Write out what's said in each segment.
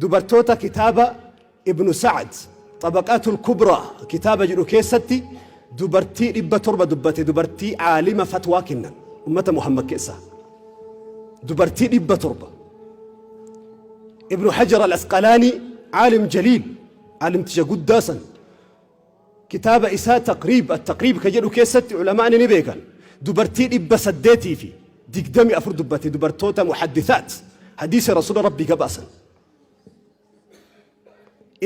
Dubartoota kitaaba Ibnu Sa'd Xabaqaatul Kubraa kitaaba jedhu keessatti dubartii 700 dubbate dubartii aalima fatwaa kennan ummata Muhammad keessaa dubartii 700 Ibnu Hajar al-Asqalaanii aalim jaliil aalimticha guddaa san Kitaaba isaa Taqriib, Attaqriib, ka jedhu keessatti ulama'ni ni beekan dubartii 824 dubbate dubartoota muhaddithaat hadiisa rasuula rabbii gabaasan.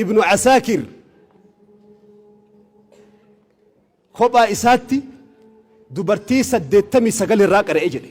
Ibnu Asaakir kophaa isaatti dubartii 89 irraa qara'e jedhe.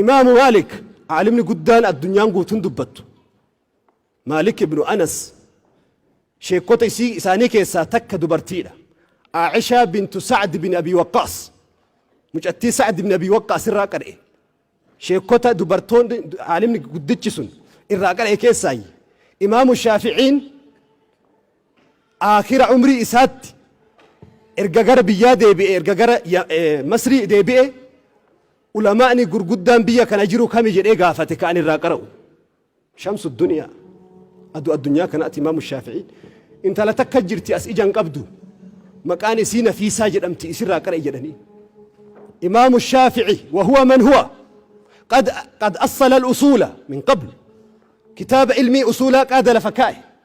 Imaamu Maalik aalimni guddaan addunyaan guutuun dubbattu Maalik ibnu Anas sheekkota isii isaanii keessaa takka dubartiidha. Aa'ishaa bintu Sa'd bin Abii Waqqaas mucattii Sa'd bin Abii Waqqaas irraa qara'e. Sheekkota dubartoonni aalimni guddichi sun irraa qara'e keessaayyi. Imaamu Shaafi'iin aakhira umrii isaatti erga gara biyyaa deebi'e erga gara ya- eh, Masrii deebi'e Ulamaa'ni gurguddaan biyya kana jiru kami jedhee gaafate ka ani irraa qara'u. Shamsu duniyaa. Aduu addunyaa kanaati Imaamu Shaafi'iin. Intala takka jirti as ija hin qabdu. Maqaan isii Nafiisaa jedhamti isirraa qara'i jedhaniin. Imaamu Shaafi'i wa huwa man huwa qad qad assala al-usuula min qabl. Kitaaba ilmii usuulaa qaada lafa kaa'e.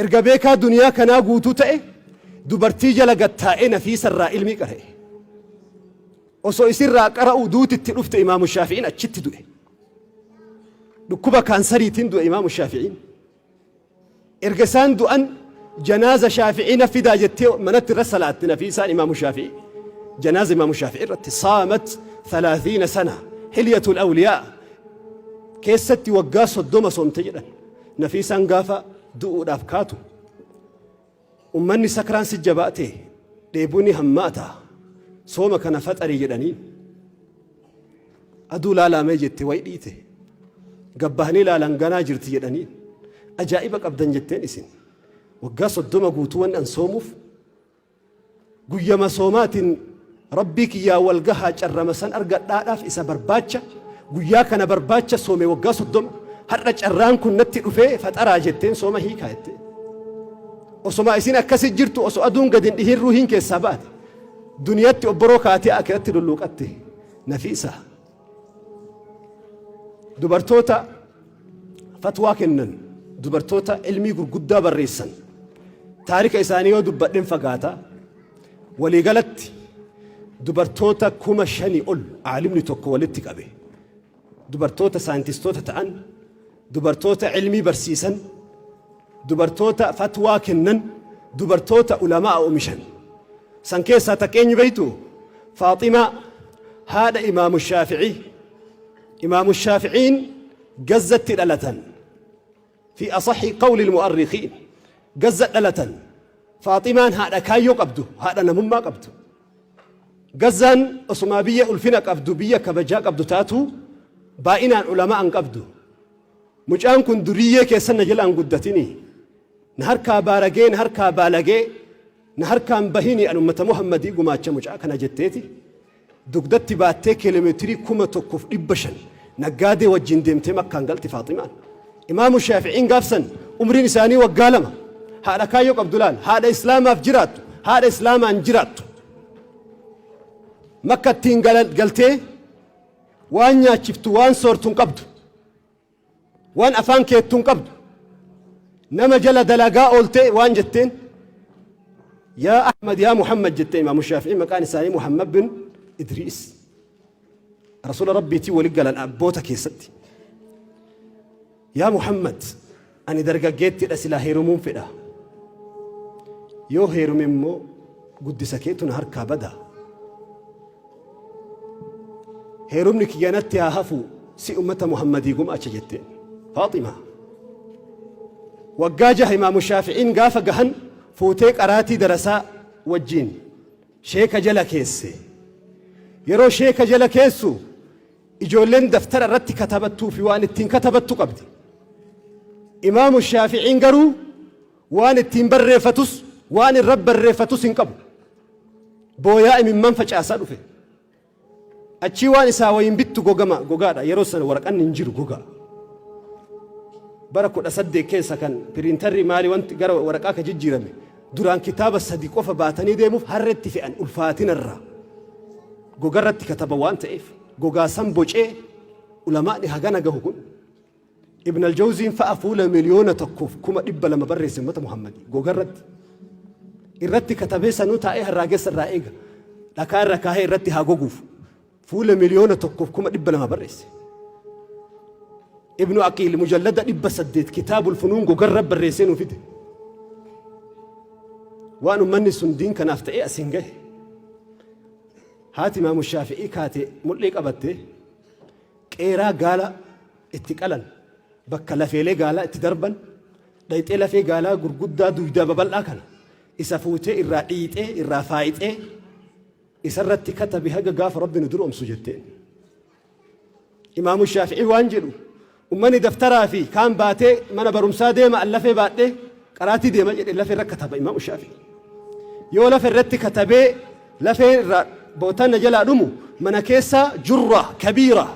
Erga beekaa duniyaa kanaa guutuu ta'e dubartii jala gad taa'ee Nafiisa irraa ilmii qara'e. Osoo isirraa qara'uu duuti itti dhufte Imaamu Shaafi'iin achitti du'e. Dhukkuba kaansariitiin du'e Imaamu Shaafi'iin. Erga isaan du'an janaaza Shaafi'ii na fidaa jettee manatti irra salaatte Nafiisaan Imaamu Shaafi'ii. Janaaza Imaamu Shaafi'ii irratti saamat 30 sana hilyatul awliyaa keessatti waggaa 30 soomte jedhan. Nafiisaan gaafa du'uudhaaf kaatu ummanni sakraan si jabaate dheebuu ni hammaata sooma kana faxarii jedhaniin. Aduu laalaamee jette way dhiite gabbahanii laalan ganaa jirti jedhaniin ajaa'iba qabdan jetteen isin waggaa soddoma guutuu waan an soomuuf Guyyama soomaatiin Rabbii kiyyaan wal gahaa carrama san argadhaadhaaf isa barbaacha guyyaa kana barbaacha soome waggaa soddoma har'a carraan kun natti dhufee faxaraa jetteen sooma hiikaa jettee. Osomaa isin akkasi jirtu osoo aduun gadi hin dhihin ruuhiin keessaa baate duniyatti obboroo kaatee akiratti lulluuqatte nafi isaa. dubartoota fatwaa kennan dubartoota ilmii gurguddaa barreessan taarika isaanii yoo dubbadhen fagaata waliigalatti dubartoota kuma shanii ol aalimni tokko walitti qabe dubartoota saayintistoota ta'an dubartoota ilmii barsiisan, dubartoota fatwaa kennan, dubartoota ulama'a omishan. San keessaa takka eenyu beeytu? Faaximaa haadha Imaamu Shaafi'ii. Imaamu Shaafi'iin Gazzatti dhalatan. Fi asaxi qawli mu'arrikiin. Gazza dhalatan. Faaximaan haadha kaayyoo qabdu, haadha namummaa qabdu. Gazzaan osumaa biyya ulfina qabdu biyya kabajaa qabdu taatuu baay'inaan ulamaa hin qabdu. Mucaan kun duriyyee keessan na jala hin guddatinii. Na harkaa baaragee na harkaa baalagee na harkaa hin bahinii an ummata Muhammadii gumaacha mucaa kana jetteeti dugdatti baattee kiiloomeetirii kuma tokkoof dhibba shan Naggaadee wajjin deemtee Makkaan galti Faaximaan. Imaamu Shaafi'iin gaaf san umriin isaanii waggaa lama. Haadha kaayyoo qabdu laal, haadha Islaamaaf jiraattu, haadha Islaamaan jiraattu. Makkattiin gala- galtee waan nyaachiftu, waan soortu hin qabdu. Waan afaan keettu hin qabdu. Nama jala dalagaa ooltee waan jetteen yaa Ahmad yaa Muhammad jettee Imaamu Shaafi'iin maqaan isaanii Muhammad bin Idriis. Rasuula Rabbiitiin wali galan abboota keessatti. Yaa Muhammad, ani dargaggeettidha silaa heerumuun fedha. Yoo heerume immoo guddisa keetu na harkaa bada. Heerumni kiyya natti haa hafu si ummata Muhammadii gumaacha jette. Faaxima. Waggaa jaha imaamu Shaafi'iin gaafa gahan fuutee qaraatii darasaa wajjiin. Sheeka jala keesse. Yeroo sheeka jala keessu ijoolleen daftara irratti katabattuu fi waan ittiin katabattu qabdi. Imaamu Shaafi'iin garuu waan ittiin barreeffatus waan irra barreeffatus hin qabu. Booyaa imimmaan facaasaa dhufe. Achii waan isaa wayiin bittu gogama gogaadha yeroo sana waraqanni hin jiru gogaa. Bara kudha saddeet keessa kan piriintarri maali wanti gara waraqaa ka jijjiirame duraan kitaaba sadi qofa baatanii deemuuf harretti fe'an ulfaatinarraa gogarratti kataba waan ta'eef gogaa san bocee ulamaa'ni hagana gahu kun Ibn al-Jawziin fa'a fuula miliyoona tokkoof kuma dhibba lama barreesse ummata Muhammadii gogarratti. Irratti katabee sanuu taa'ee harraagessa irraa eega. Dhakaa irra kaahee irratti haa goguuf. Fuula miliyoona tokkoof kuma dhibba lama barreesse. Ibnu Aqiil mujallada dhibba saddeet kitaabul funuun gogarra barreessee nuu fide. Waan ummanni sun diin kanaaf ta'ee asiin gahe. Haati Imaamu Shaafi'ii kaatee mul'ee qabattee Qeeraa gaala itti qalan, bakka lafeelee gaalaa itti darban, dhayxee lafee gaalaa gurguddaa duydaa babal'aa kana isa fuutee irraa dhiiyxee irraa faayxee isa irratti katabi haga gaafa Rabbi nu duroomsu jetteen. Imaamu Shaafi'ii waan jedhu ummani daftaraa fi kaan baatee mana barumsaa deema an lafee baadhee Qaraatii deema jedhe lafe irra kataba imaamu shaafi'i. Yoo lafe irratti katabee lafeen irraa bootaan na jalaa dhumu mana keessa jurra kabiira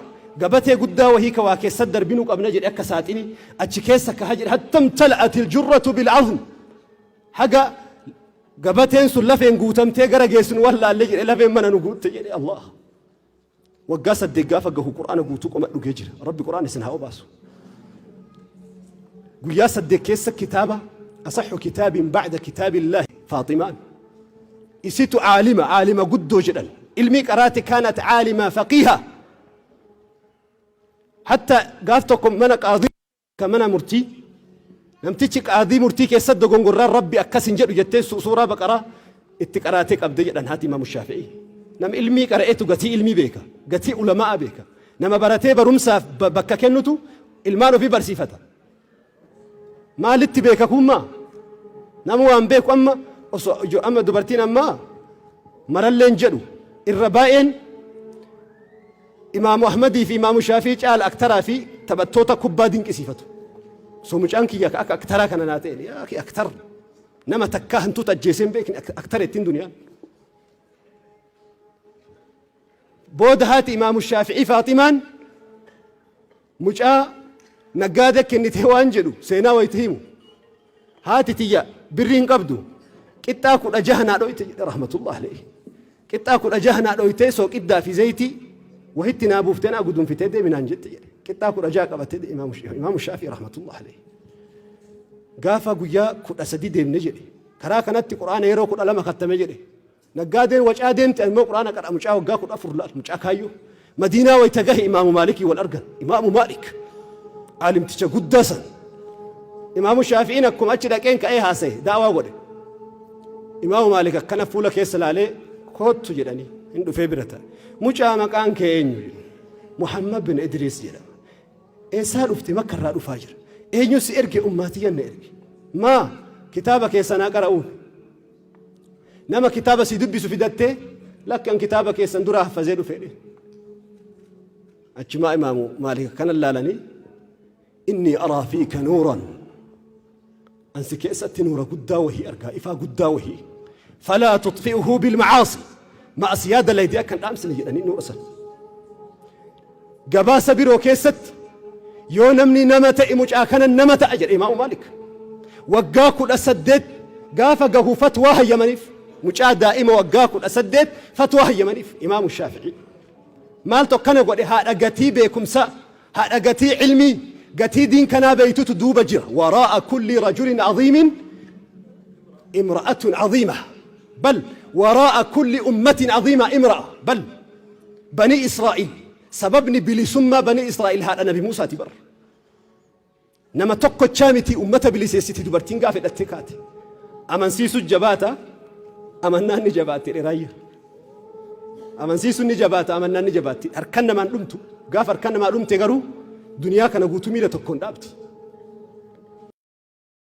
gabatee guddaa wahii ka waa keessa darbinu qabna jedhe akka saaxini achi keessa kaha jedhe hattam tal'atil jurratu bil azm haga gabateen sun lafeen guutamtee gara geessinu wallaalle jedhe lafeen mana nu guutte jedhe Allah Waggaa saddeet gaafa gahu qur'aana guutuu qoma dhugee jira. Rabbi qur'aana isin haa obaasu. Guyyaa saddeet keessa kitaaba asaxu kitaabiin ba'da kitaabillahi Faaximaan. Isitu aalima aalima guddoo jedhan. Ilmii qaraate kaanat aalima faqiiha. Hatta gaaf tokko mana qaadii ta mana murtii namtichi qaadii murtii keessatti dogongorraan rabbi akkas hin jedhu jettee su- suuraa baqaraa itti qaraatee qabde jedhan haati imaamu shaafi'ii nama ilmii qara'etu gatii ilmii beeka gatii ulama'a beeka nama baratee barumsaaf ba- bakka kennutu ilmaan ofii barsiifata maalitti beeka kummaa nama waan beeku amma osoo ijo- amma dubartiin ammaa maralleen jedhu irra baay'een Imaamu Ahmadii fi Imaamu Shaafii caala aktaraa fi taphattoota kubbaa dinqisiifatu. So mucaan kiyya akka aktaraa kana naa ta'e yaa akhi aktar nama takkaa hantuuta ajjeesee hin beekne ak- aktara ittiin duniyaan. Booda haati Imaamu Shaafi'ii Faaximaan Mucaa naggaadee kennitee waan jedhu seenaa wayita himu, haati tiyya birrii hin qabdu, qixxaa 16 naa dhooyte jedhe rahmatullahi alayhi. Qixxaa 16 naa dhooytee sooqiddaa fi zaytii wahitti naa buuftee naa gudunfitee deemi naan jette jedhe. Qixxaa 16 qabatee deeme Imaamu Sh- Imaamu Shaafii rahmatullahi alayhi. Gaafa guyyaa 13 deemne jedhe. Karaa kanatti Qur'aana yeroo 12 kattame jedhe. Naggaadeen wacaa deemte ani immoo qur'aana qara mucaa waggaa 14 laal mucaa kaayyoo madiinaa wayta gahe imaamu maalikii wal argan imaamu maalik aalimticha guddaa san imaamu shaafi'iin akkuma achi dhaqeen ka'ee haasa'e daawaa godhe imaamu maalik akkana fuula keessa laalee koottu jedhanii hin dhufee bira ta'a mucaa maqaan kee eenyu jedhu muhammad bin idriis jedhama eessaa dhufte makka irraa dhufaa jira eenyu si erge ummaatiyyan na erge maa kitaaba keessanaa qara'uun Nama kitaaba si dubbisu fidattee lakki an kitaaba keessan dura haffazee dhufe jedhe. Achumaa imaamu maaliif kanan laalanii inni araa fi kanuuran ansi keessatti nuura guddaa wahii argaa ifaa guddaa wahii falaa tuxfi'uhu bilmacaasi ma'asiyaa dalaydee akkan dhaamsine jedhanii nuura sana. Gabaasa biroo keessatti yoo namni nama ta'e mucaa kana nama ta'a jedhe Imaamu Maalik waggaa 18 gaafa gahu fatwaa hayyamaniif mucaa daa'ima waggaa 18 fatwaa hayyamaniif Imaamu Shaafi'ii maaltu akkana godhe haadha gatii beekumsaa haadha gatii ilmii gatii diin kanaa beeytutu duuba jira waraa'a kulli rajulin aziimin imra'atun aziima bal waraa'a kulli ummatin aziima imra'a bal Banii Israa'iil sababni bilisummaa banii Israa'iil haadha nabi Muusaati bar. Nama tokkochaa miti ummata biliseessiti dubartiin gaafa hidhattee kaate. Amansiisu jabaata amannaan ni jabaatti dheraayya. Amansiisu ni jabaata amannaan ni jabaatti harkan namaan dhumtu gaafa harkan namaa dhumte garuu duniyaa kana guutuu miila tokkoon dhaabdi.